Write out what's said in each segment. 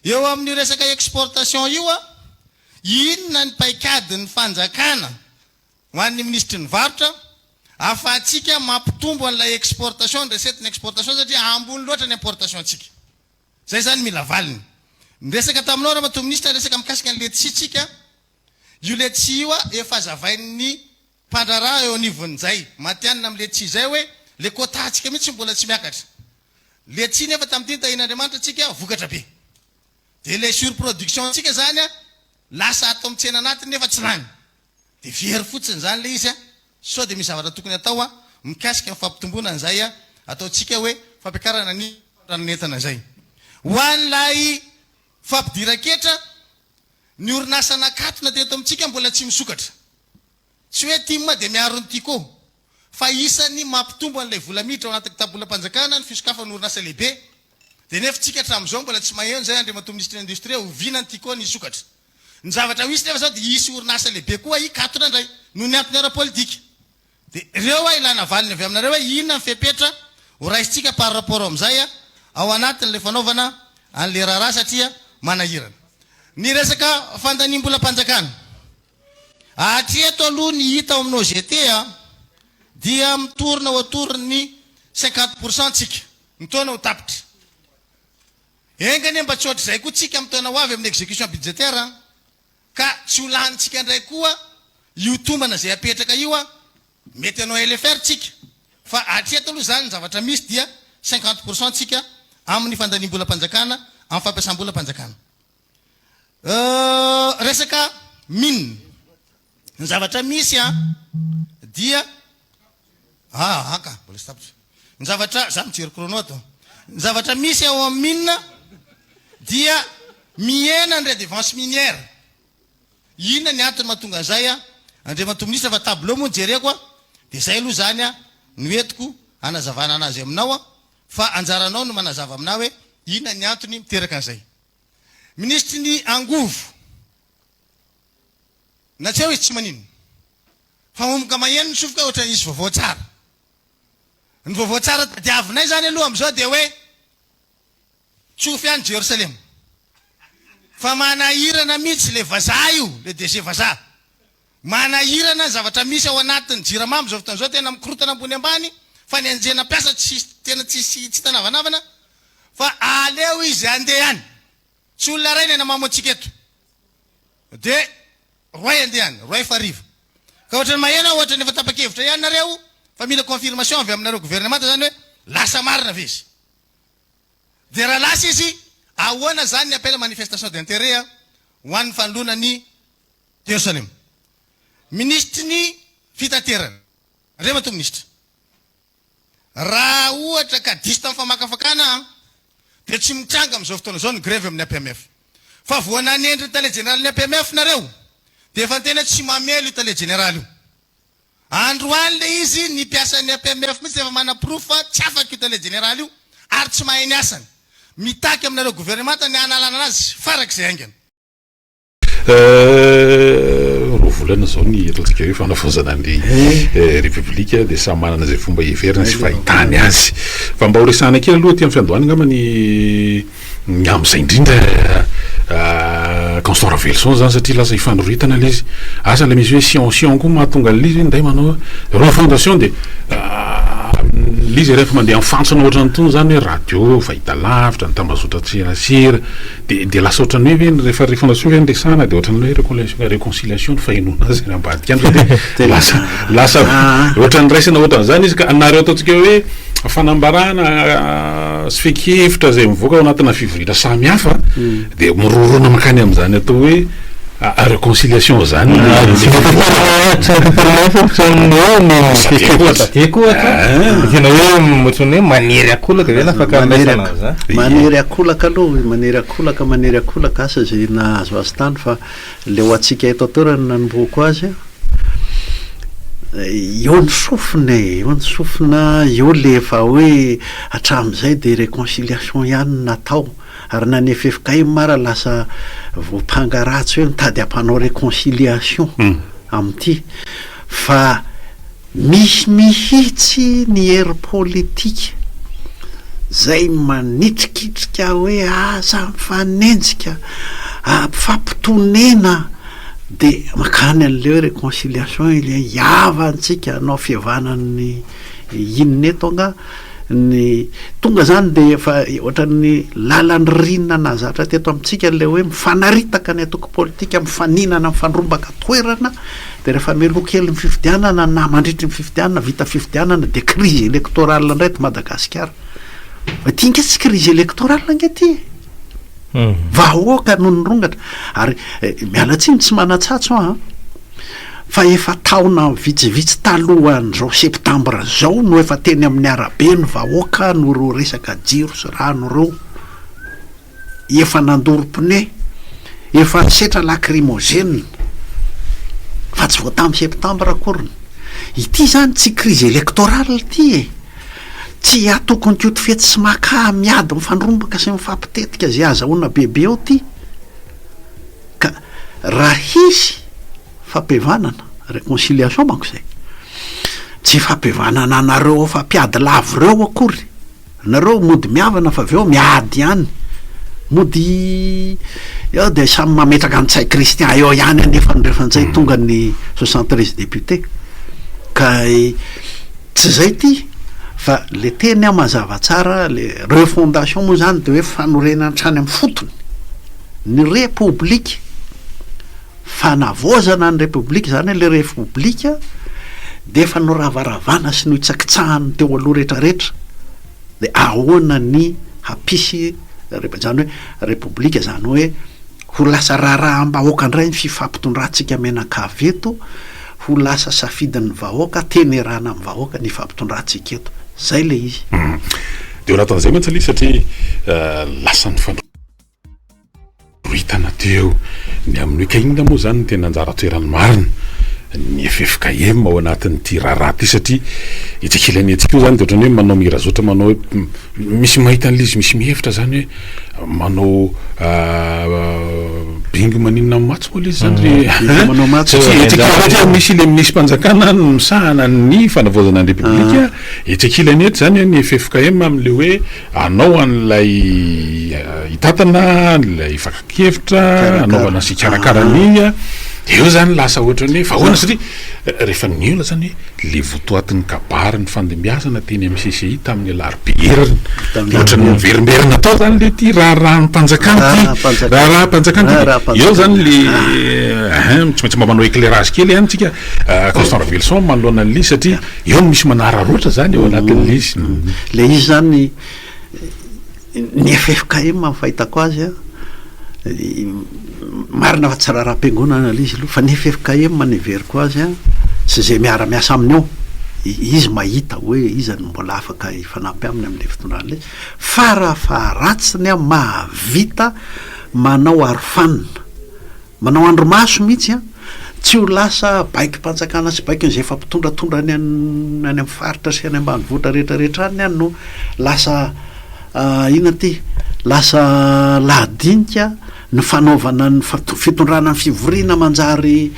Eo amin'ny resaka exportation io an, inona ny paikadin'ny fanjakana ho an'ny minisitry ny varotra afahatsika mampitombo an'ilay exportation, ny recette-n'ny exportation satria ambony loatra ny importation-tsika. Izay izany mila valiny. Niresaka taminao ramatoa minisitra resaka mikasika ny letisia tsika, io letisia io an efa hazavain'ny Mpandraharaha eo anivon'izay. Matihanina amin'ny letchi izay hoe ilay quota-ntsika mihitsy mbola tsy miakatra. Letchi nefa tamin'ity ny tahian'Andriamanitra antsika vokatra be. Dia ilay surproduction-ntsika izany lasa ato amin'ny tsena anatiny nefa tsy lany. Dia very fotsiny izany ilay izy. Sao dia misy zavatra tokony atao mikasika ny fampitomboana an'izay ataontsika hoe fampiakarana ny fandrarana entana izay. Ho an'ilay fampidiran-ketra Ny orinasa nakatona teto amintsika mbola tsy misokatra. Tsy hoe tim dia miaro ny Tiko. Fa isan'ny mampitombo an'ilay vola miditra ao anaty kitabolam-panjakana ny fisokafan'ny orinasa lehibe. Dia nefa tsika hatramin'izao mbola tsy maheno izay Andriamatoa Minisitry ny Indostria oviana ny Tiko no hisokatra. Ny zavatra ho hisy nefa izao dia hisy orinasa lehibe koa hikatona indray noho ny antony ara-politika. Dia ireo hoa ilana valiny avy aminareo hoe inona ny fepetra ho raisintsika par rapport amin'izay ao anatin'ilay fanaovana an'ilay raharaha satria manahirana ny resaka fandaniam-bolam-panjakana. Hatreto aloha ny hita ao amin'ny OGT dia mitorina autour ny cinquante pour cent tsika ny taona ho tapitra. Enga anie mba tsy hoatr'izay koa tsika amin'ny taona ho avy amin'ny execution budgétaire. ka tsy ho lanintsika ndray koa io tombana izay apetraka io an! mety hanao LFR tsika fa hatreto aloha izany ny zavatra misy dia cinquante pour cent tsika amin'ny fandaniam-bolam-panjakana amin'ny fampiasam-bolam-panjakana euh, resaka mine ny zavatra misy an dia Aaka, mbola tsy tapitra. Ny zavatra, za mijery chrono ato. Ny zavatra misy ao amin'ny mine dia mihena ny redevance minière. Inona ny antony mahatonga an'izay an? Andriamatoa Minisitra fa tableau moa no jereko an, dia izay aloha izany an no entiko hanazavana an'azy aminao an, fa anjaranao no manazava amin'ahy hoe inona ny antony miteraka an'izay. Minisitry ny angovo. Na tsy hoe izy tsy maninona. Fa omga maheno ny sofoka ohatra hisy vaovao tsara. Ny vaovao tsara tadiavinay izany aloha amin'izao dia hoe tsofy any Jerosalema. Fa manahirana mihitsy ilay vazaha io, ilay DG vazaha. Manahirana ny zavatra misy ao anatin'ny Jirama amin'izao fotoana izao, tena mikorotana ambony ambany, fa ny anjena mpiasa tena tsisy, tsy hita navanavana, fa aleo izy handeha any. Tsy olona iray ny hanamamo antsika eto. Dia roay andiany, roay faha arivo. Ka ohatran'ny maheno aho, ohatran'ny efa tapa-kevitra ihany nareo fa mila confirmation avy aminareo gouvernemanta izany hoe lasa marina ve izy. Dia raha lasa izy, ahoana izany ny appel à manifestation d'intérêt ho an'ny fanoloana ny Jerosalema. Minisitry ny fitaterana. Andriamatoa Minisitra. Raha ohatra ka diso tamin'ny famakafakana aho dia tsy mitranga amin'izao fotoana izao ny grevy amin'ny APMF. Fa vao nanendry ny tale jeneralin'ny APMF nareo dia efa tena tsy mamely io tale jeneraly io. Androany ilay izy ny mpiasan'ny APMF mihitsy efa manaporofo fa tsy afaka io tale jeneraly io ary tsy mahay ny asany. Mitaky aminareo governemanta ny hanalana azy farak'izay haingana. Roa volana izao ny ataontsika hoe fanavaozana ny Repoblika dia samy manana izay fomba hiheverany sy fahitany azy. Fa mba horesahana kely aloha aty amin'ny fiandohana angamba ny ny amin'izay indrindra Constant Raveloson izany satria lasa hifanoritana ilay izy. Asa ilay misy hoe Sion Sion koa mahatonga an'ilay izy hoe nday manao hoe refondation dia ilay izy rehefa mandeha amin'ny fantsona ohatran'itony izany hoe radio, fahitalavitra, ny tambazotran-tserasera. Dia dia lasa ohatran'ny hoe ve ny rehefa rehefa naseo ve ny resahana dia ohatran'ny hoe réconciliation réconciliation ny fahenoana azy any ambadika any ve dia lasa lasa ohatran'ny raisina ohatran'izany izy ka anareo ataontsika hoe fanambarana sy fehin-kevitra izay mivoaka ao anatina fivoriana samihafa dia mirorona mankany amin'izany atao hoe reconciliation izany manery akolaka ve manery akolaka aloha manery akolaka manery akolaka asa izay nahazo azy tany fa leo antsika eto an-toerana nanombohako azy eo ny sofina e eo ny sofina eo le efa hoe hatramin'izay dia reconciliation ihany natao Ary na ny ffkm ara lasa voampanga ratsy hoe mitady hampanao reconciliation amin'ity fa misy mihitsy ny hery politika zay manitrikitrika hoe aza mifanenjika a mifampitonena de makany an'le hoe reconciliation ilay hihavantsika hanao fihavanan'ny inona eto angaha. Ny tonga izany dia efa ohatran'ny lalan'ny rina nahazatra teto amintsika ilay hoe mifanaritaka ny antoko politika, mifaninana, mifandrombaka toerana, dia rehefa meloa kely ny fifidianana na mandritry ny fifidianana, vita fifidianana dia crise électorale indray eto Madagasikara. Fa ity ange tsy crise électorale ange ity e! Vahoaka no nirongatra. Ary eh, miala tsiny tsy manan-tsatso aho an. fa efa taona vitsivitsy talohan'izao septambra izao no efa teny amin'ny arabe ny vahoaka noho ireo resaka jiro sy rano ireo, efa nandoro pneu, efa nisetra lacrymogène, fa tsy vao tamin'ny septambra akory ny. Ity izany tsy crise électorale ity e! Tsy atokon'ny koto fetsy sy maka miady mifandrombaka sy mifampitetika izay azahoana bebe eo ity. Ka raha hisy fampihavanana, reconciliation manko izay, tsy fampihavanana anareo efa mpiady lavo ireo akory, nareo mody mihavana fa avy eo miady ihany, mody eo dia samy mametraka ny tsay Christian eo ihany anefa ny refantsay tonga ny soixante treize députés ka tsy izay ity fa le teny aho mazava tsara le refondation moa izany dia hoe fanorenana hatrany amin'ny fotony. ny Repoblika, fanavaozana ny Repoblika izany hoe ilay Repoblika dia efa noravaravana sy nohitsakitsahan'ny teo aloha rehetrarehetra, dia ahoana ny hampisy Rep-, izany hoe Repoblika izany hoe ho lasa raharaham-bahoaka indray ny fifampitondrantsika mianakavy eto, ho lasa safidin'ny vahoaka, tenerana amin'ny vahoaka ny ifampitondrantsika eto. Izay ilay izy. Dia ao anatin'izay mantsy anie satria lasa nifandrombaka. Ho hitana teo ny amin'ny hoe ka inona moa izany no tena anjara toerany marina ny ffkm ao anatin'ity raharaha ity satria etsy ankilany etsy koa izany dia ohatran'ny hoe manao mirazotra manao hoe misy mahita an'ilay izy misy mihevitra izany hoe manao bingo maninona amin'ny matso moa ilay izy izany ve Bingo manao matso satria etsy ankilany etsy dia misy ilay minisitrim-panjakana any misahana ny fanavaozana ny repoblika etsy ankilany etsy izany ny ffkm amin'ilay hoe Hanao an'ilay hitantana, an'ilay fakan-kevitra, hanaovana sy hikarakara ny, dia eo izany lasa ohatra ny hoe vahoana satria rehefa nihaona izany hoe ilay votoatin'ny kabary nifandimbiasana teny amin'ny CCI tamin'ny alarobia heriny, dia ohatra ny miverimberina tao izany ilay ity raharaham-panjakana ity, raharaham-panjakana ity, eo izany ilay, ahin, tsy maintsy mba manao éclairage kely ihany isika, Constant Ravelison manoloana an'ilay izy satria. Eo no misy manararaotra zany eo anatin'ilay izy. Ilay izy zany ny ffkm amin'ny fahitako azy a, marina fa tsy raharaham-piangonana ilay izy aloha fa ny ffkm no heveriko azy a, sy izay miara-miasa aminy ao, izy mahita hoe iza no mbola afaka hifanampy aminy amin'ilay fitondràna ilay izy. Fara faharatsiny a, mahavita manao arofanina. Manao andrimaso mihitsy an! Tsy ho lasa baikom-panjakana sy baikon'izay efa mpitondratondra any any amin'ny faritra sy any ambanivohitra rehetra rehetra any an no lasa inona ity? lasa lahadinika ny fanaovana ny fitondrana ny fivoriana manjary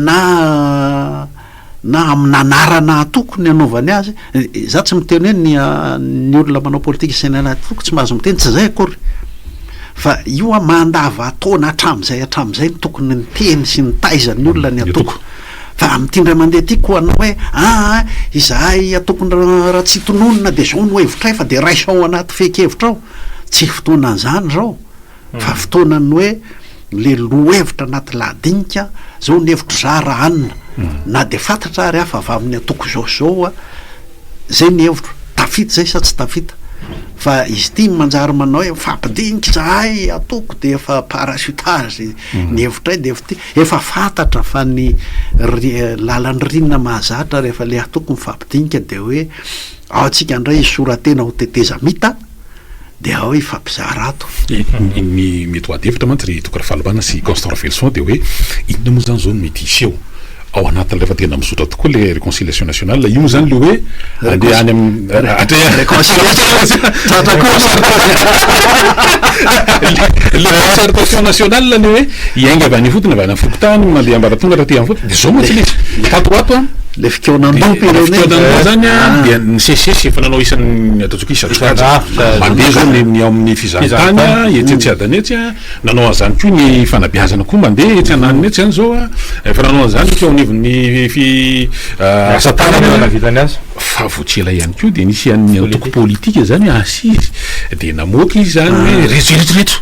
na na amina anarana atoko ny anaovany azy, za tsy miteny hoe ny ny olona manao politika sy ny anarana atoko tsy mahazo miteny, tsy zay akory fa io a mandava taona hatramizay hatramizay no tokony ny teny sy ny taiza ny olona ny atoko fa amty indray mandeha ty ko anao hoe aa izahay atoko raha tsy tononina de zao no hevitray fa de raiso ao anaty fehin-kevitra ao, tsy fotoana anzany zao. Fa fotoanan'ny hoe le lohevitra anaty lahadinika zao ny hevitry za ra anona na de fatatra ary ah fa avy aminy antoko zao sy zao ah zay ny hevitro tafita zay sa tsy tafita fa izy ity ny manjary manao hoe mifampidinika zahay antoko de efa parachutage ny hevitray de efa ty efa fatatra fa ny lalan'ny rinina mahazatra refa le antoko mifampidinika de hoe ao tsika ndray hisoratena ho tetezamita dia ao hifampizara ato. Ny mety ho adihevitra mantsy ry Toky Rafalibana sy Constant Raveloson dia hoe inona moa izany izao no mety hiseho ao anatiny rehefa tena mizotra tokoa ilay reconciliation nationale, io izany ilay hoe andeha any amin'ny atreha. Ilay concertation nationale ilay hoe hiainga avy any ifotony, avy any amin'ny fokontany, mandeha ambaratonga taty amin'ny fototra, dia izao mantsy ilay izy, tato ho ato an, Ilay fikaonandoha-pirenena. Ilay fikaonandoha izany an, dia nisesisesy efa nanao isan'ny. Mpisatrokajy mandeha zao ny ny ao amin'ny fizahantany a, etsy etsy adany etsy a, nanao an'izany koa ny fanabeazana koa mandeha etsy ananona etsy zany zao a, efa nanao an'izany teo anivon'ny fi asa tanana, fa vao tsy ela ihany koa dia nisy an'ny antoko politika izany hoe assise dia namoaka izy izany hoe reto ireto ireto.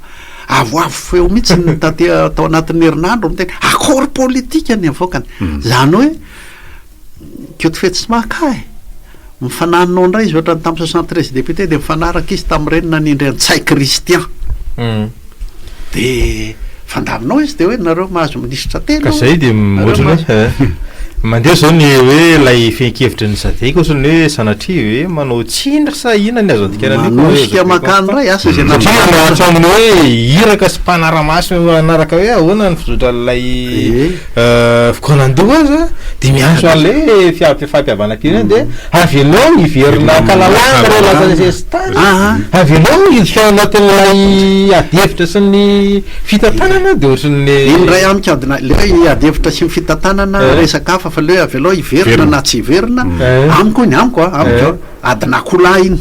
Avoavo feo mihitsy ny taty tao anatin'ny herinandro miteny accord politique ny avoakany. Hmm. Zany hoe Koto Fetsy tsy mahaka e. Mifananona indray izy ohatrany tamin'ny 73 députés dia mifanaraka izy tamin'ireny nanindry an'i Ntsay Christian. Hmm. Dia fandaminao izy dia hoe nareo mahazo Ka zay dia ohatrany hoe mandeha zao ny hoe ilay fehin-kevitry ny sadc ohatrany hoe sanatria ve manao tsiny sa inona ny azo andikana an'io? Manosika makany indray asa izay nampianarina. Satria manao hatramin'ny hoe iraka sy mpanara-maso hanaraka hoe ahoana ny fizotra an'ilay fikaonan-doha aza dia miantso an'ilay fifampihavanam-pirenena dia avelao hiverina an-kalalahana ilay laza nisesitany, avelao hiditra ao anatin'ilay adihevitra sy ny. Fitantanana dia ohatran'ny le. Iny indray amiko adinay, le hoe ady hevitra sy ny fitantanana resaka hafa fa le hoe avelao hiverina na tsy hiverina, amiko iny, amiko an, amiko adin'akoholahy iny,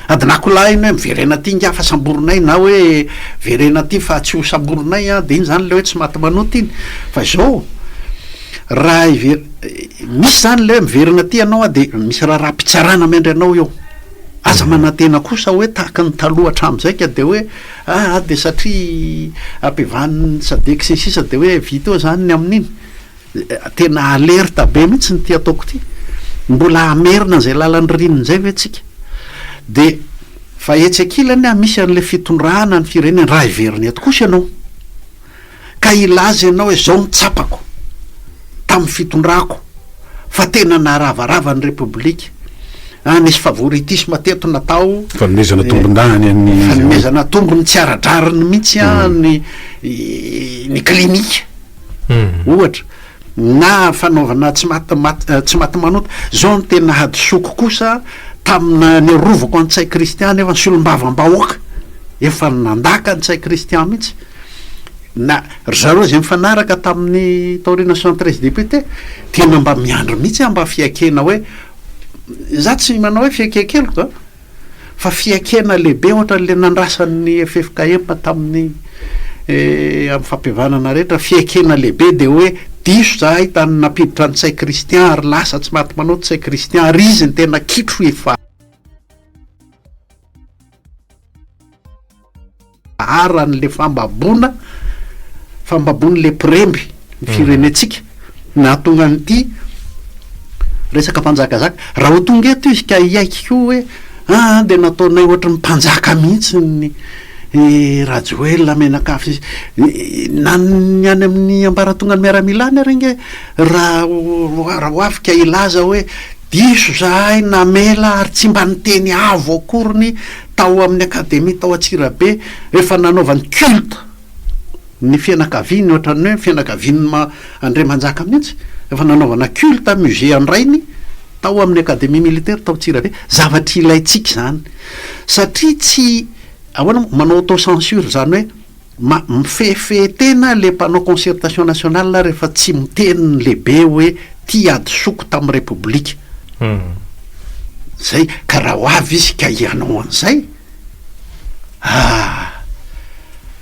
adin'akoholahy iny hoe miverena aty ingahy fa samborinay na hoe verena aty fa tsy ho samborinay an, dia iny izany le hoe tsy maty manota iny, fa izao raha hiverina, misy izany le hoe miverina aty ianao an dia misy raharaham-pitsarana miandry anao eo, aza manantena kosa hoe tahaka ny taloha hatramin'izay ka dia hoe. Aa dia satria ampivanin'ny sadec sy ny sisa dia hoe vita eo izany ny amin'iny? Tena alerte be mihitsy ity ataoko ity. Mbola hamerina an'izay lalan'ny ririnina indray ve tsika? Dia fa etsy ankilany misy an'ilay fitondrana ny firenena raha heverina eto kosa ianao. ka hilaza ianao hoe izao no tsapako tamin'ny fitondrako fa tena naharavarava ny Repoblika, ah nisy favoritisme teto natao, Fanomezana tombondahiny an'ny izy ireo. fanomezana tombony tsy ara-drariny mihitsy ah ny ny klinika ohatra, na fanaovana tsy maty maty eh, tsy maty manota, izao no tena hadisoako kosa tamina ny arovako an'i Ntsay Christian nefa ny solombavambahoaka efa nandaka an'i Ntsay Christian mihitsy. Na ry zareo izay nifanaraka tamin'ny taoriana soixante treize députés tena mba miandry mihitsy aho mba fiaikena hoe izaho tsy manao hoe fiaikekeloka an, fa fiaikena lehibe ohatran'ilay nandrasan'ny ffkm tamin'ny amin'ny fampihavanana rehetra, fiaikena lehibe dia hoe diso izahay tany nampiditra an'i Ntsay Christian ary lasa tsy maty manao Ntsay Christian ary izy no tena kitro efa. Aran' le fambaboana, fambaboan' le mpiremby ny firenentsika nahatonga an' ity resaka mpanjakazaka. Raha ho tonga eto izy ka hiaiky koa hoe aa dia nataonay ohatry ny mpanjaka mihitsy ny i Rajoelina mianakavy sy ny na ny any amin' ny ambaratonga ny miaramila any ary ange raha ho avy ka hilaza hoe Diso izahay namela ary tsy mba niteny avo akoriny tao amin'ny Akademia tao Antsirabe rehefa nanaovany culte ny fianakaviany ohatran'ny hoe fianakavian'ny ma Andriamanjaka mihitsy rehefa nanaovana culte musée an-drainy tao amin'ny Akademia Militaire tao Antsirabe. Zavatra ilaintsika izany satria tsy ahoana moa manao auto-censure izany hoe Ma, mifehifehy tena le mpanao concertation nationale rehefa tsy miteny ny lehibe hoe ty hadisoko tamin'ny repoblika. Zay, ka raha ho avy izy ka hianao an'izay, ah,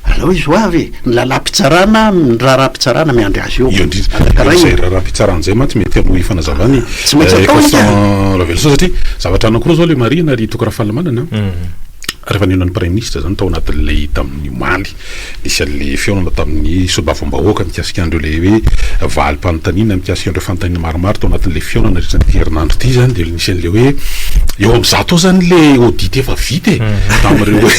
aleo izy ho avy e! Ny lalam-pitsarana, ny raharaham-pitsarana miandry azy eo. Iandriana, izay raharaham-pitsarana izay mantsy mety hanome fanazavana ny ex-raveloson satria zavatra anankiroa izao ilay marihina ry Toky Rafalimanana an. Rehefa nihaona ny Praiminisitra izany tao anatin'ilay tamin'ny omaly, nisy an'ilay fihaonana tamin'ny solombavambahoaka mikasika an'ireo ilay hoe valim-panontaniana mikasika an'ireo fanontaniana maromaro tao anatin'ilay fihaonana nandritra an'ity herinandro ity izany dia nisy an'ilay hoe eo amin'ny zato eo izany ilay audit efa vita e tamin'ireo hoe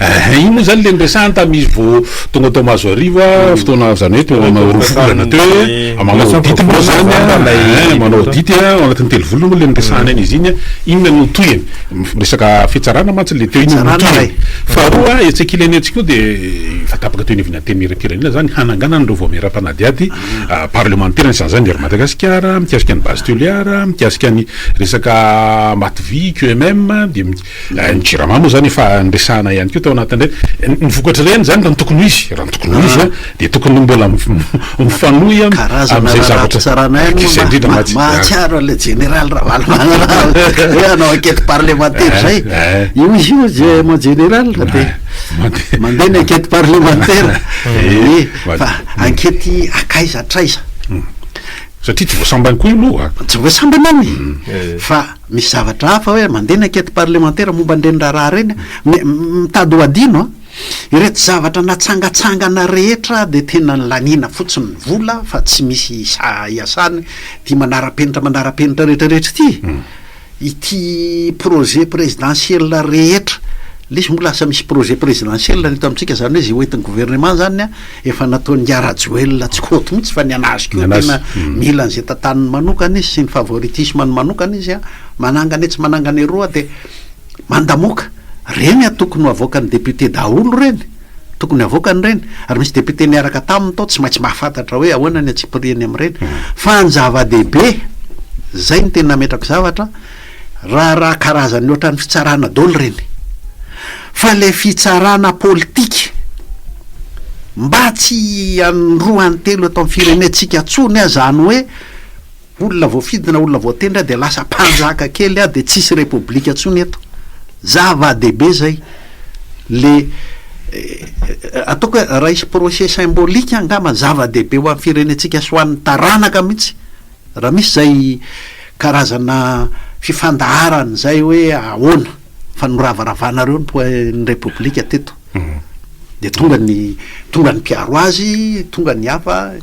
ehe iny moa izany ilay niresahany tamin'izy vao tonga tao Mahazoarivo fotoana izany hoe teo amin'ny roa volana teo hoe manao audit moa izany manao audit ao anatin'ny telo volana moa ilay niresahana an'izy iny inona no tohiny Resaka fitsarana mantsy le teo iny no Faharoa hetsika ilaina etsy koa dia efa tapaka teo anivon'ny Antenimierampirenena izany ny hananganana an'ireo vaomieram-panadihady ah, parlemantera ny sahaza ny Hery Madagasikara, mikasika ny Base Toliara, mikasika ny resaka Mativy, QMM, dia mi- eh, ny Jirama moa izany efa niresahana ihany koa tao anatin'ireny. Ny vokatra ireny izany raha ny tokony ho izy, raha ny tokony ho izy ah, Dia tokony ho mbola mifanohy amin'izay zavatra, izay indrindra mba tsy, mahatsiaro an'ilay jeneraly Ravalomanana hoe hanao enquête parlementaire izay, io izy io je, mon general, dia mandeha ny enquête parlementaire, ee, fa enquête akaiza hatraiza? Satria tsy voasambany koa io aloha an! Tsy voasambana an! Fa misy zavatra hafa hoe mandeha ny enquête parlementaire momba an'ireny raharaha ireny an! mitady ho adino an! Ireto zavatra natsangatsangana rehetra dia tena nilaniana fotsiny ny vola fa tsy misy sahy iasana ity manara-penitra manara-penitra rehetrarehetra ity. Ity projet présidentiel rehetra, lesy moa lasa misy projet présidentiel ry reto amintsika izany hoe izay hoentin'ny gouvernement izany an, efa nataon'i Ingahy Rajoelina tsy kôty mihitsy fa ny an'azy koa tena mila an'izay tantaniny manokana izy sy ny favoritisme-ny manokana izy an, manangana etsy manangana eroa dia Mandamoka, reny a tokony ho avoakan'ny député daholo reny, tokony havoakany ireny, ary misy député niaraka taminy tao tsy maintsy mahafantatra hoe ahoana ny antsipiriany amin'ireny, fa ny zava-dehibe, izay no tena ametrako zavatra, raharaha karazany ohatran'ny fitsarana daholo ireny, fa ilay fitsarana politika, mba tsy an roa an telo eto amin'ny firenentsika tsony aza any hoe, Olona voafidy na olona voatendry aho dia lasa mpanjaka kely aho dia tsisy repoblika tsony eto. Zava dehibe zay. Le ataoko hoe raha hisy procès symbolique angamba zava dehibe ho an'ny firenentsika sy ho an'ny taranaka mihitsy raha misy zay karazana fifandaharana zay hoe ahoana fa noravaravanareo ny repoblika teto. Dia tonga ny tonga ny mpiaro azy, tonga ny hafa.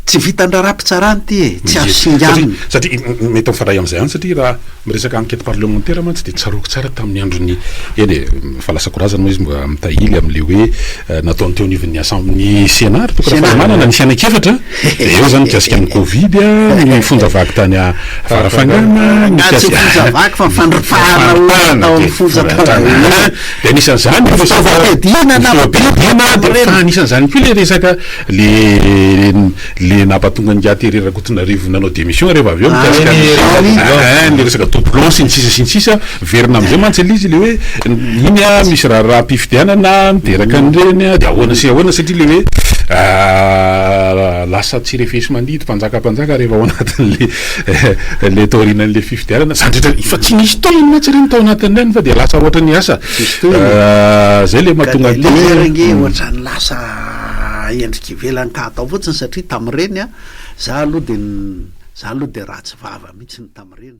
Tsy vitan-draharaha mpitsarana ity e, tsy azo singanina. Satria mety mifandray amin'izay ihany satria raha miresaka enquête parlementaire mantsy dia tsaroako tsara tamin'ny andron'ny, eny e, efa lasa korazana moa izy mba mitahily amin'ilay hoe nataony teo anivon'ny Assem-, ny Sénat ry Toky Rafalimanana, ny fiainan-kefatra dia eo izany mikasika ny covid, ny fonja vaky tany Farafangana, Angaha tsy ny fonja vaky fa ny fandripahana olona tao amin'ny fonja tany. Dia anisan'izany, ny fifidianana, ny fifidianana, dia efa anisan'izany koa ilay resaka. Le le nampatonga an'i Ngiahy Terry Rakotonarivo nanao démission reva avy eo mikasika ny eeh ny resaka doublon sy ny sisa sy ny sisa miverina amizay mantsy le izy le hoe iny ah misy raharaham-pifidianana miteraka an'ireny ah de ahoana sy ahoana satria le hoe lasa tsy refesi-mandidy mpanjaka mpanjaka reva ao anatin'le le taorinan'le fifidianana zandritra efa tsy nisy tohiny mantsy ireny tao anatin'ireny fa de lasa ohatran'ny asa zay le mahatonga an'ity hoe. endrika ivelany ka atao fotsiny satria tamin'ireny a, za aloha dia za aloha dia ratsy vava mihitsy ny tamin'ireny.